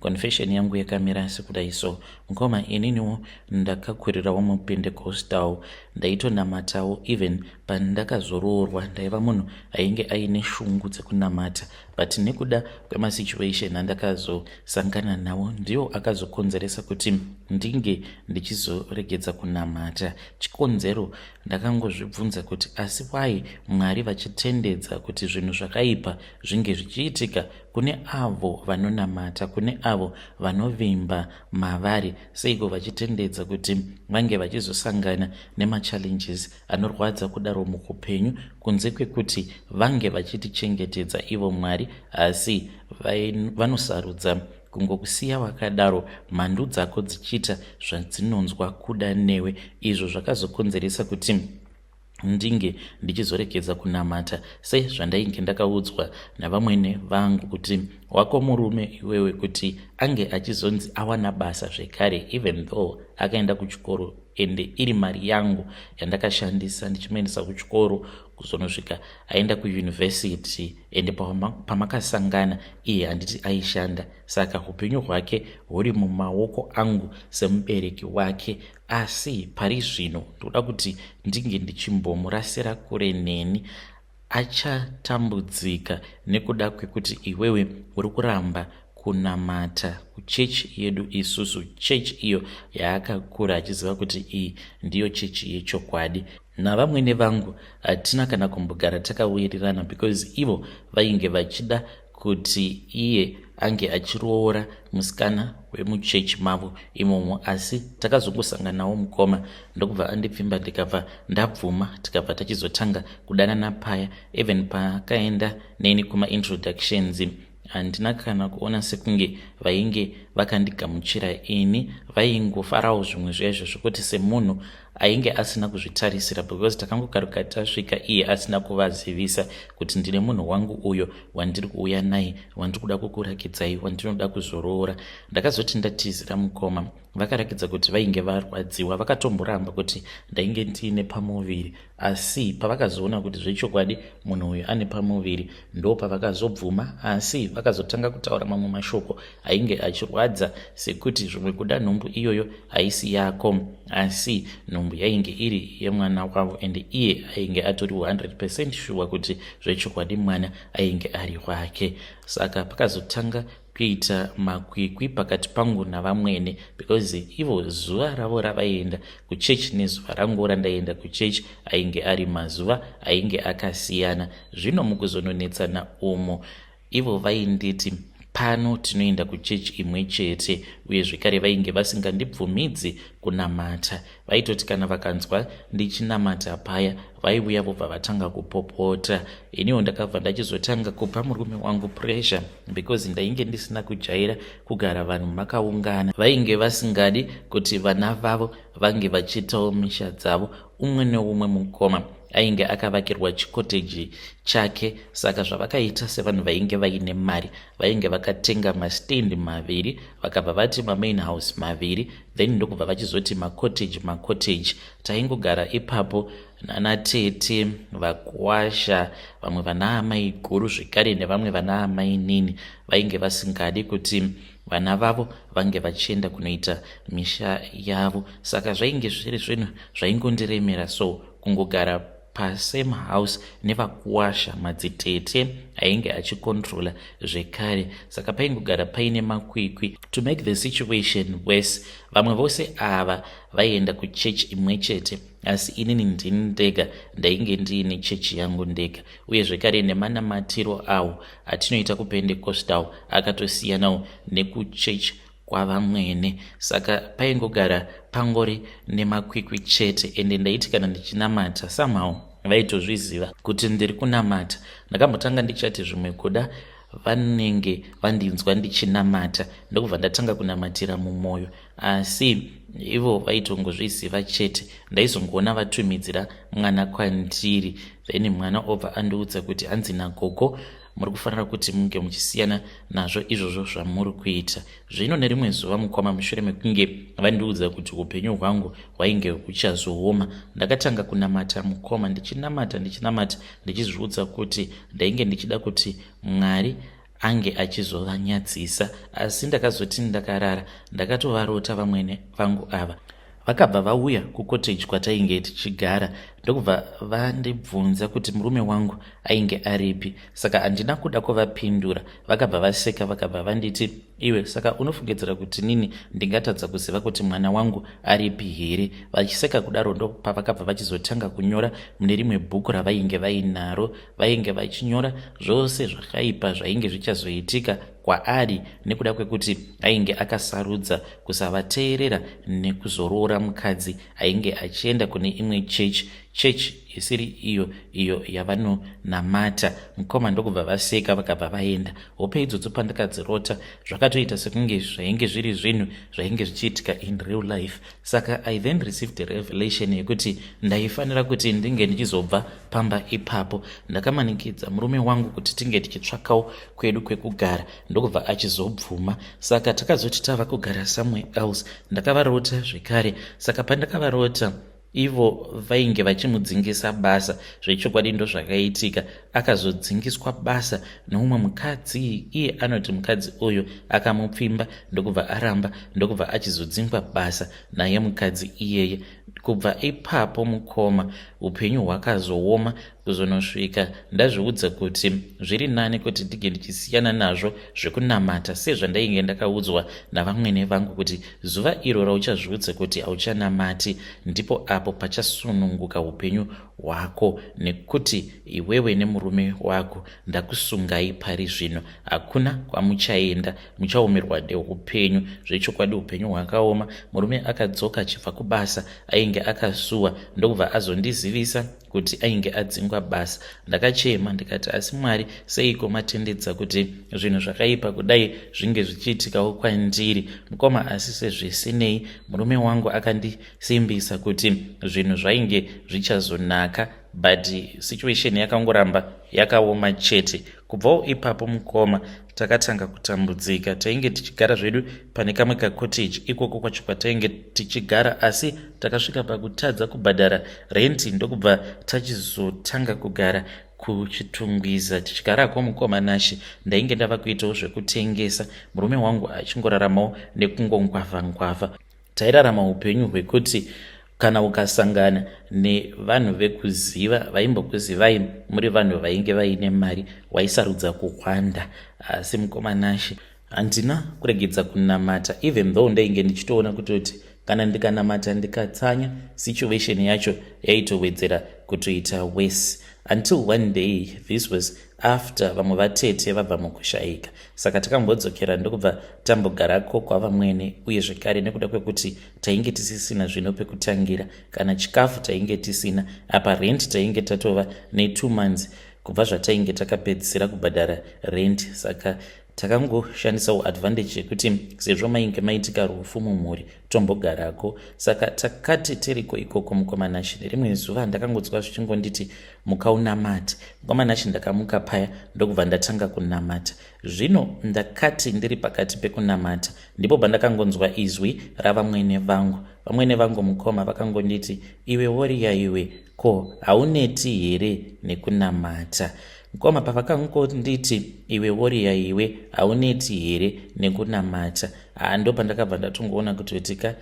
Confession yangu yakamira sekudai so mkoma ininiwo ndakakurirawo mupendecostal ndaitonamatawo even pandakazoroorwa ndaiva munhu ainge aine shungu dzekunamata but nekuda kwemasituation andakazosangana nawo ndiwo akazokonzeresa kuti ndinge ndichizoregedza kunamata chikonzero ndakangozvibvunza kuti asi wai mwari vachitendedza kuti zvinhu zvakaipa zvinge zvichiitika Kune avo vanonamata, kune avo vanovimba mavari, seiko vachitendedza kuti vange vachizosangana nemachallenges anorwadza kudaro mukupenyu kunze kwekuti vange vachitichengetedza ivo Mwari asi vanosarudza kungokusiya wakadaro mhandu dzako dzichiita zvadzinonzwa kuda newe izvo zvakazokonzeresa kuti ndinge ndichizorekedza kunamata sezvandainge ndakaudzwa navamwene vangu kuti wako murume iwewe kuti ange achizonzi awana basa zvekare even though akaenda kuchikoro ende iri mari yangu yandakashandisa ndichimuendesa kuchikoro kuzonosvika aenda kuyunivhesiti ende pamakasangana iye handiti aishanda saka upenyu hwake huri mumaoko angu semubereki wake asi pari zvino ndoda kuti ndinge ndichimbomurasira kure neni achatambudzika nekuda kwekuti iwewe uri kuramba kunamata kuchechi yedu isusu chechi iyo yaakakura achiziva kuti iyi ndiyo chechi yechokwadi navamwene vangu hatina kana kumbogara takawirirana because ivo vainge vachida kuti iye ange achiroora musikana wemuchechi mavo imomo asi takazongosanganawo mukoma ndokubva andipfimba ndikabva ndabvuma tikabva tachizotanga kudanana paya even pakaenda neni kumaintroductions handina kana kuona sekunge vainge vakandigamuchira ini vaingofarawo zvimwe zvaizvo zvekuti semunhu ainge asina kuzvitarisira because takangokaruka tasvika iye asina kuvazivisa kuti ndine munhu wangu uyo wandiri kuuya naye wandiri kuda kukurakidzai wandinoda kuzoroora ndakazoti ndatizira mukoma vakarakidza kuti vainge varwadziwa vakatomboramba kuti ndainge ndiine pamuviri asi pavakazoona kuti zvechokwadi munhu uyu ane pamuviri ndo pavakazobvuma asi vakazotanga kutaura mamwe mashoko ainge achirwadza sekuti zvimwe kuda nhumbu iyoyo haisi yako asi nhumbu yainge iri yemwana wavo and iye ainge atori 100 percent shuwa kuti zvechokwadi mwana ainge ari wake saka pakazotanga kuita makwikwi pakati pangu navamwene because ivo zuva ravo ravaienda kuchechi nezuva rangu randaienda kuchechi ainge ari mazuva ainge akasiyana zvino mukuzononetsana umo Ivo vainditi, Pano tinoenda kuchechi imwe chete, uye zvekare vainge vasingandibvumidzi kunamata. Vaitoti kana vakanzwa ndichinamata paya, vaiuya vobva vatanga kupopota. Iniwo ndakabva ndachizotanga kupa murume wangu pressure because ndainge ndisina kujaira kugara vanhu makaungana. Vainge vasingadi kuti vana vavo vange vachiitawo misha dzavo umwe neumwe mukoma. ainge akavakirwa chikoteji chake saka zvavakaita sevanhu vainge vaine mari vainge vakatenga mastendi maviri vakabva vati mamain house maviri then ndokubva vachizoti macoteji macoteji taingogara ipapo nana tete vakwasha vamwe vana amai guru zvekare nevamwe vana amai nini vainge vasingadi kuti vana vavo vange vachienda kunoita misha yavo saka zvainge zviri zvinhu zvaingondiremera so kungogara pasame house nevakuwasha madzitete ainge achikontrola zvekare saka paingogara paine makwikwi to make the situation worse vamwe vose ava vaienda kuchechi imwe chete asi inini ndini ndega ndainge ndiine chechi yangu ndega uye zvekare nemanamatirwo awo atinoita kupendecostal akatosiyanawo nekuchurch kwavamwene saka paingogara pangori nemakwikwi chete ende ndaiti kana ndichinamata somehow vaitozviziva kuti ndiri kunamata ndakambotanga ndichati zvimwe kuda vanenge vandinzwa ndichinamata ndokubva ndatanga kunamatira mumwoyo asi ivo vaitongozviziva chete ndaizongoona vatumidzira mwana kwandiri then mwana obva andiudza kuti hanzi nagogo muri kufanira kuti munge muchisiyana nazvo izvozvo zvamuri kuita zvino nerimwe zuva mukoma mushure mekunge vandiudza kuti upenyu hwangu hwainge huchazooma ndakatanga kunamata mukoma ndichinamata ndichinamata ndichizviudza kuti ndainge ndichida kuti mwari ange achizovanyadzisa asi ndakazoti ndakarara ndakatovarota vamwene vangu ava vakabva vauya kucottage kwatainge tichigara ndokubva vandibvunza kuti murume wangu ainge aripi saka handina kuda kuvapindura vakabva vaseka vakabva vanditi iwe saka unofungidzira kuti nini ndingatadza kuziva kuti mwana wangu aripi here vachiseka kudaro ndopavakabva vachizotanga kunyora mune rimwe bhuku ravainge vainaro vainge vachinyora zvose zvakaipa zvainge zvichazoitika kwaari nekuda kwekuti ainge akasarudza kusavateerera nekuzoroora mukadzi ainge achienda kune imwe chechi chechi isiri iyo iyo yavanonamata mukoma ndokubva vaseka vakabva vaenda hope idzodzo pandakadzirota zvakatoita sekunge zvainge zviri zvinhu zvainge zvichiitika in real life saka i then received a revelation yekuti ndaifanira kuti ndinge ndichizobva pamba ipapo ndakamanikidza murume wangu kuti tinge tichitsvakawo kwedu kwekugara ndokubva achizobvuma saka takazoti tava kugara somewhere else ndakavarota zvekare saka pandakavarota ivo vainge vachimudzingisa basa zvechokwadi ndozvakaitika akazodzingiswa basa noumwe mukadzi iye anoti mukadzi uyu akamupfimba ndokubva aramba ndokubva achizodzingwa basa naye mukadzi iyeye kubva ipapo mukoma upenyu hwakazooma kuzonosvika ndazviudza kuti zviri nani kuti ndige ndichisiyana nazvo zvekunamata sezvandainge ndakaudzwa navamwene vangu kuti zuva iro rauchazviudza kuti hauchanamati ndipo apo pachasununguka upenyu wako nekuti iwewe nemurume wako ndakusungai pari zvino hakuna kwamuchaenda muchaomerwa neupenyu zvechokwadi upenyu hwakaoma murume akadzoka achibva kubasa ainge akasuwa ndokubva azondizivisa kuti ainge adzingwa basa ndakachema ndikati asi mwari seiko matendedza kuti zvinhu zvakaipa kudai zvinge zvichiitikawo kwandiri mukoma asi sezvisinei murume wangu akandi simbisa kuti zvinhu zvainge zvichazonaka but situation yakangoramba yakaoma chete kubvawo ipapo mukoma takatanga kutambudzika tainge tichigara zvedu pane kamwe kacottage ikoko kwacho kwatainge tichigara asi takasvika pakutadza kubhadhara renti ndokubva tachizotanga kugara kuchitungwiza tichigarako mukoma nashe ndainge ndava kuitawo zvekutengesa murume wangu achingoraramawo nekungongwavha ngwavha Tairarama upenyu hwekuti kana ukasangana nevanhu vekuziva vaimbokuzivai muri vanhu vainge vaine mari waisarudza kuhwanda asi mukomanashe handina kuregedza kunamata even though ndainge ndichitoona kutoti kana ndikanamata ndikatsanya situation yacho yaitowedzera kutoita worse until one day this was after vamwe vatete vabva mukushaika saka takambodzokera ndokubva tambogarako kwavamwene uye zvekare nekuda kwekuti tainge tisisina zvino pekutangira kana chikafu tainge tisina apa rent tainge tatova netwo months kubva zvatainge takapedzisira kubhadhara rent saka takangoshandisawo advantage yekuti sezvo mainge maitika rufu mumhuri tombogarako saka takati tiriko ikoko mukoma nashi nerimwe zuva ndakangodzwa zvichingonditi muka unamati mukoma nashi ndakamuka paya ndokubva ndatanga kunamata zvino ndakati ndiri pakati pekunamata ndipo bandakangonzwa izwi ravamwene vangu vamwene vangu mukoma vakangonditi iwe woriya iwe Ko hauneti here nekunamata? Mkoma pavakangonditi iwe woriya iwe hauneti here nekunamata? Haa ndo pandakabva ndatongoona kutoti ka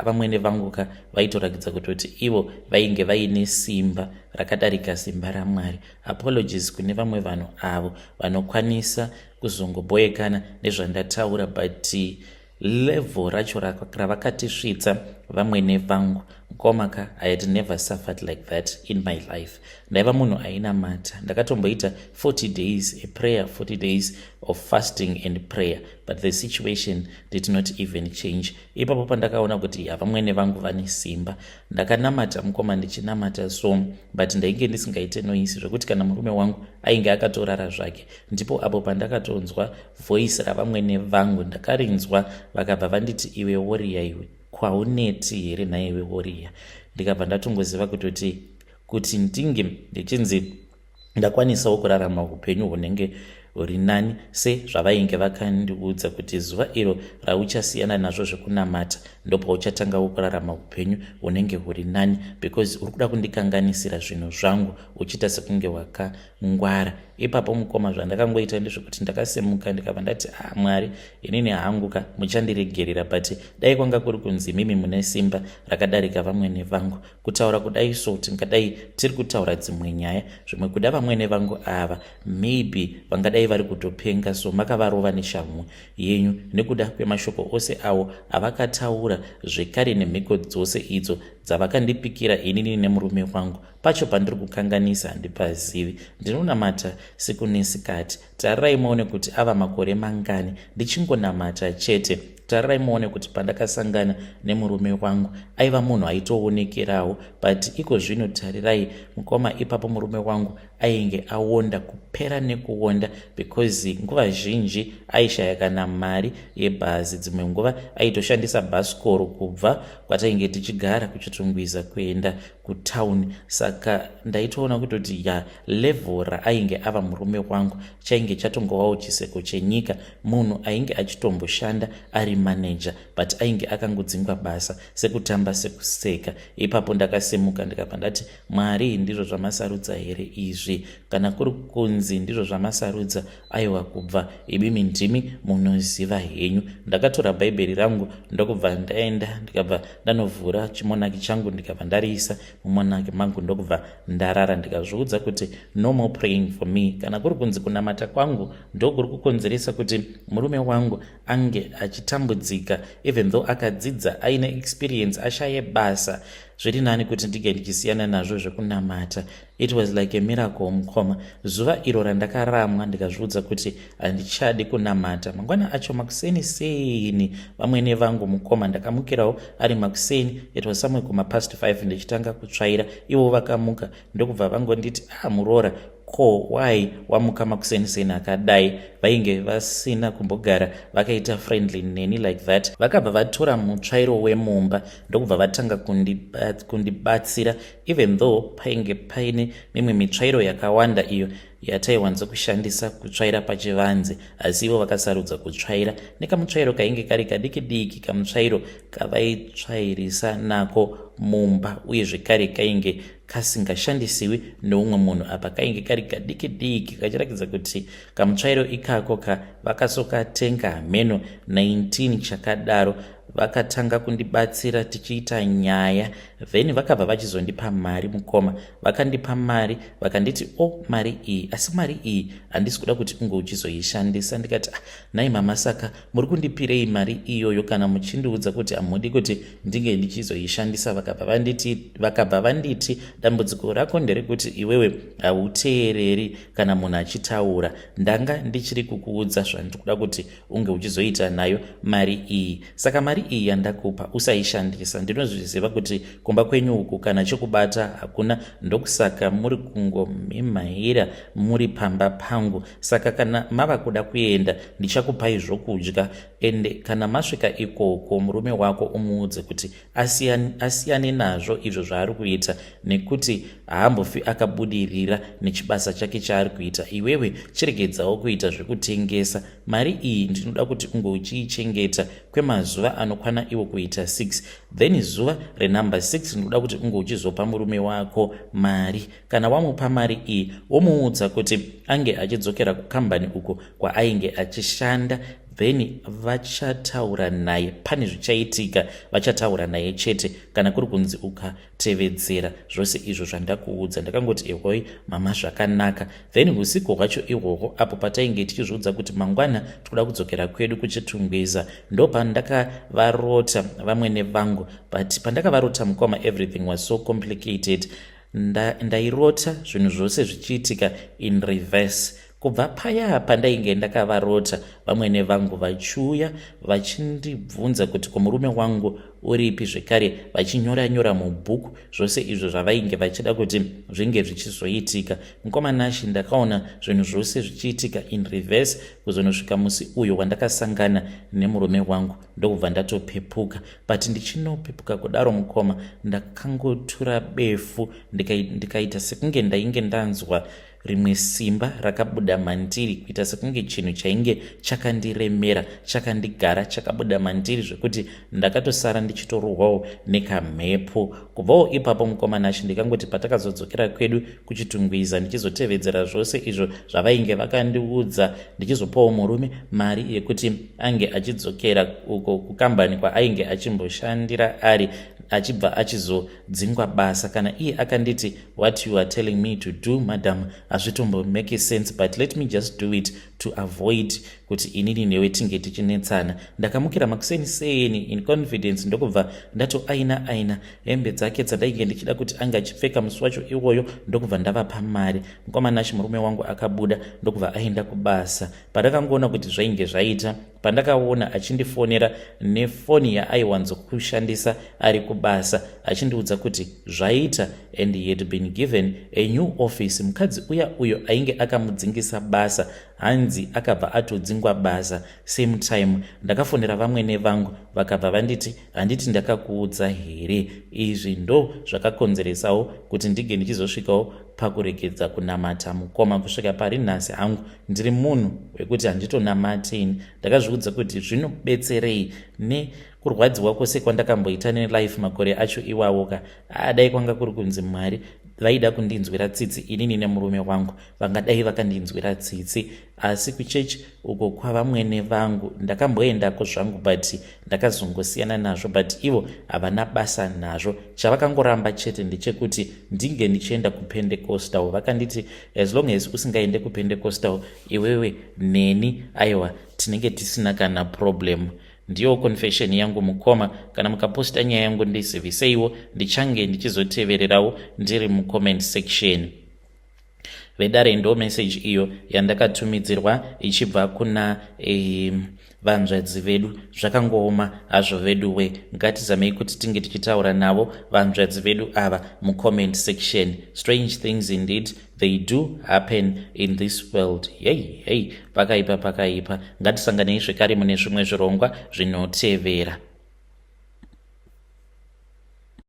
vamwene vangu ka vaitorakidza kutoti ivo vainge vaine simba rakadarika simba raMwari. Apologies kune vamwe vanhu avo vanokwanisa kuzongoboekana nezvandataura but level racho ravakatisvitsa vamwene vangu mkomaka i had never suffered like that in my life ndaiva munhu ainamata ndakatomboita 40 days a prayer 40 days of fasting and prayer but the situation did not even change ipapo pandakaona kuti havamwene vangu vane simba ndakanamata mukoma ndichinamata so but ndainge ndisingaite noisi zvekuti kana murume wangu ainge akatorara zvake ndipo apo pandakatonzwa Voice ravamwene vangu ndakarinzwa vakabva vanditi iwe woriya iwe kwauneti here nhaiwe woriya ndikabva ndatongoziva kutoti kuti ndinge ndichinzi ndakwanisawo kurarama upenyu hunenge huri nani sezvavainge vakandiudza kuti zuva iro rauchasiyana nazvo zvekunamata ndopauchatangawo kurarama upenyu hunenge huri nani because uri kuda kundikanganisira zvinhu zvangu uchiita sekunge waka ngwara ipapo mukoma zvandakangoita ndezvekuti ndakasimuka ndikabva ndati ah mwari inini hangu ka muchandiregerera but dai kwanga kuri kunzi imimi mune simba rakadarika vamwene vangu kutaura kudai so tingadai tiri kutaura dzimwe nyaya zvimwe kuda vamwene vangu ava maybe vangadai vari kutopenga so makavarova neshamhu yenyu nekuda kwemashoko ose awo avakataura zvekare nemhiko dzose idzo dzavakandipikira inini nemurume wangu pacho pandiri kukanganisa handipazivi ndinonamata siku nesikati tarirai muone kuti ava makore mangani ndichingonamata chete tarirai muone kuti pandakasangana nemurume wangu aiva munhu aitoonekerawo but iko zvino tarirai mukoma ipapo murume wangu ainge awonda kupera nekuwonda because nguva zhinji aishaya kana mari yebhazi dzimwe nguva aitoshandisa bhasikoro kubva kwatainge tichigara kuchitungwiza kuenda kutown saka ndaitoona kutoti ya level raainge ava murume wangu chainge chatongovawo chiseko chenyika munhu ainge achitomboshanda ari manager but ainge akangodzingwa basa sekutamba sekuseka ipapo ndakasimuka ndikabva ndati mwari ndizvo zvamasarudza here izvi kana kuri kunzi ndizvo zvamasarudza aiwa kubva ibimi ndimi munoziva henyu ndakatora bhaibheri rangu ndokubva ndaenda ndikabva ndanovhura chimonaki changu ndikabva ndariisa mumonaki mangu ndokubva ndarara ndikazviudza kuti no more praying for me kana kuri kunzi kunamata kwangu ndokuri kukonzeresa kuti murume wangu ange achitambudzika even though akadzidza aine experience ashaye basa zviri nani kuti ndinge ndichisiyana nazvo zvekunamata It was like a miracle mukoma. Zuva iro randakaramwa ndikazviudza kuti handichadi kunamata. Mangwana acho makuseni seni vamwene vangu mukoma ndakamukirawo ari makuseni it was somewhere kuma past 5 ndichitanga kutsvaira ivo vakamuka ndokubva vangonditi ah muroora ko why wamuka makuseni seni akadai vainge vasina kumbogara vakaita friendly neni like that vakabva vatora mutsvairo wemumba ndokubva vatanga kundibatsira even though painge paine mimwe mitsvairo yakawanda iyo yataiwanzo kushandisa kutsvaira pachivanze asi ivo vakasarudza kutsvaira nekamutsvairo kainge kari kadiki diki kamutsvairo kavaitsvairisa nako mumba uye zvekare kainge kasingashandisiwi neumwe munhu apa kainge kari kadiki diki kachiratidza kuti kamutsvairo ikako ka vakasokatenga hameno 19 chakadaro vakatanga kundibatsira tichiita nyaya then vakabva vachizondipa mari mukoma vakandipa mari vakanditi o oh, mari iyi asi mari iyi handisi kuda kuti unge uchizoishandisa ndikati ah, nai mama saka muri kundipirei mari iyoyo kana muchindiudza kuti hamudi kuti ndinge ndichizoishandisa vakabva vanditi vakabva vanditi dambudziko rako nderekuti iwewe hauteereri kana munhu achitaura ndanga ndichiri kukuudza zvandiri kuda kuti unge uchizoita nayo mari iyi saka mari iyi yandakupa usaishandisa ndinozviziva kuti kumba kwenyu uku kana chokubata hakuna ndokusaka muri kungomhimhaira muri pamba pangu saka kana mava kuda kuenda ndichakupai zvokudya ende kana masvika ikoko murume wako umuudze kuti asiyane, asiyane nazvo izvo zvaari kuita nekuti haambofi akabudirira nechibasa chake chaari kuita iwewe chiregedzawo kuita zvekutengesa mari iyi ndinoda kuti unge uchiichengeta kwemazuva anokwana iwo kuita 6 then zuva renumber 6 ndinoda kuti unge uchizopa murume wako mari kana wamupa mari iyi womuudza kuti ange achidzokera kukambani uko kwaainge achishanda then vachataura naye pane zvichaitika vachataura naye chete kana kuri kunzi ukatevedzera zvose izvo zvandakuudza ndakangoti ehoi mama zvakanaka then usiku hwacho ihwohwo apo patainge tichizviudza kuti mangwana tikuda kudzokera kwedu kuchitungwiza ndopandakavarota vamwene vangu but pandakavarota mukoma everything was so complicated nda, ndairota zvinhu zvose zvichiitika in reverse kubva paya pandainge ndakavarota vamwene vangu vachiuya vachindibvunza kuti kumurume wangu uripi zvekare vachinyora nyora mubhuku zvose izvo zvavainge vachida kuti zvinge zvichizoitika mukoma nashi ndakaona zvinhu zvose zvichiitika in reverse kuzonosvika musi uyo wandakasangana nemurume wangu ndokubva ndatopepuka but ndichinopepuka kudaro mukoma ndakangotura befu ndikaita sekunge ndainge ndanzwa rimwe simba rakabuda mandiri kuita sekunge chinhu chainge chakandiremera chakandigara chakabuda mandiri zvekuti ndakatosara ndichitorohwawo nekamhepo kubvawo ipapo mukoma nashe ndikangoti patakazodzokera kwedu kuchitungwiza ndichizotevedzera zvose izvo zvavainge vakandiudza ndichizopawo murume mari yekuti ange achidzokera uko kukambani kwaainge achimboshandira ari achibva achizodzingwa basa kana iye akanditi what you are telling me to do madam hazvitombomake sense but let me just do it to avoid kuti inini newe tinge tichinetsana ndakamukira makuseni seni in confidence ndokubva ndatoaina aina hembe dzake dzandainge ndichida kuti ange achipfeka musi wacho iwoyo ndokubva ndavapa mari mukoma nashi murume wangu akabuda ndokubva aenda kubasa pandakangoona kuti zvainge zvaita Pandakaona achindifonera nefoni yaaiwanzokushandisa ari kubasa achindiudza kuti zvaita and he had been given a new office mukadzi uya uyo ainge akamudzingisa basa hanzi akabva atodzingwa basa same time ndakafonera vamwene vangu vakabva vanditi handiti ndakakuudza here izvi ndo zvakakonzeresawo kuti ndinge ndichizosvikawo pakuregedza kunamata mukoma kusvika pari nhasi hangu ndiri munhu wekuti handitonamati ini ndakazviudza kuti zvinobetserei nekurwadziwa kwose kwandakamboita nelife makore acho iwawo ka adai kwanga kuri kunzi mwari vaida kundinzwira tsitsi inini nemurume wangu vangadai vakandinzwira tsitsi asi kuchurch uko kwavamwene vangu ndakamboendako zvangu but ndakazongosiyana nazvo but ivo havana basa nazvo chavakangoramba chete ndechekuti ndinge ndichienda kupendecostal vakanditi as long as usingaende kupendecostal iwewe neni aiwa tinenge tisina kana problem ndiyo confession yangu mukoma kana mukaposta nyaya yangu ndiziviseiwo ndichange ndichizotevererawo ndiri mucomment section vedare ndo message iyo yandakatumidzirwa ichibva kuna eh, vanzvadzi vedu zvakangooma hazvo veduwe ngatizamei kuti tinge tichitaura navo vanzvadzi vedu ava mucomment section strange things indeed they do happen in this world yei yei pakaipa pakaipa ngatisanganei zvekare mune zvimwe zvirongwa zvinotevera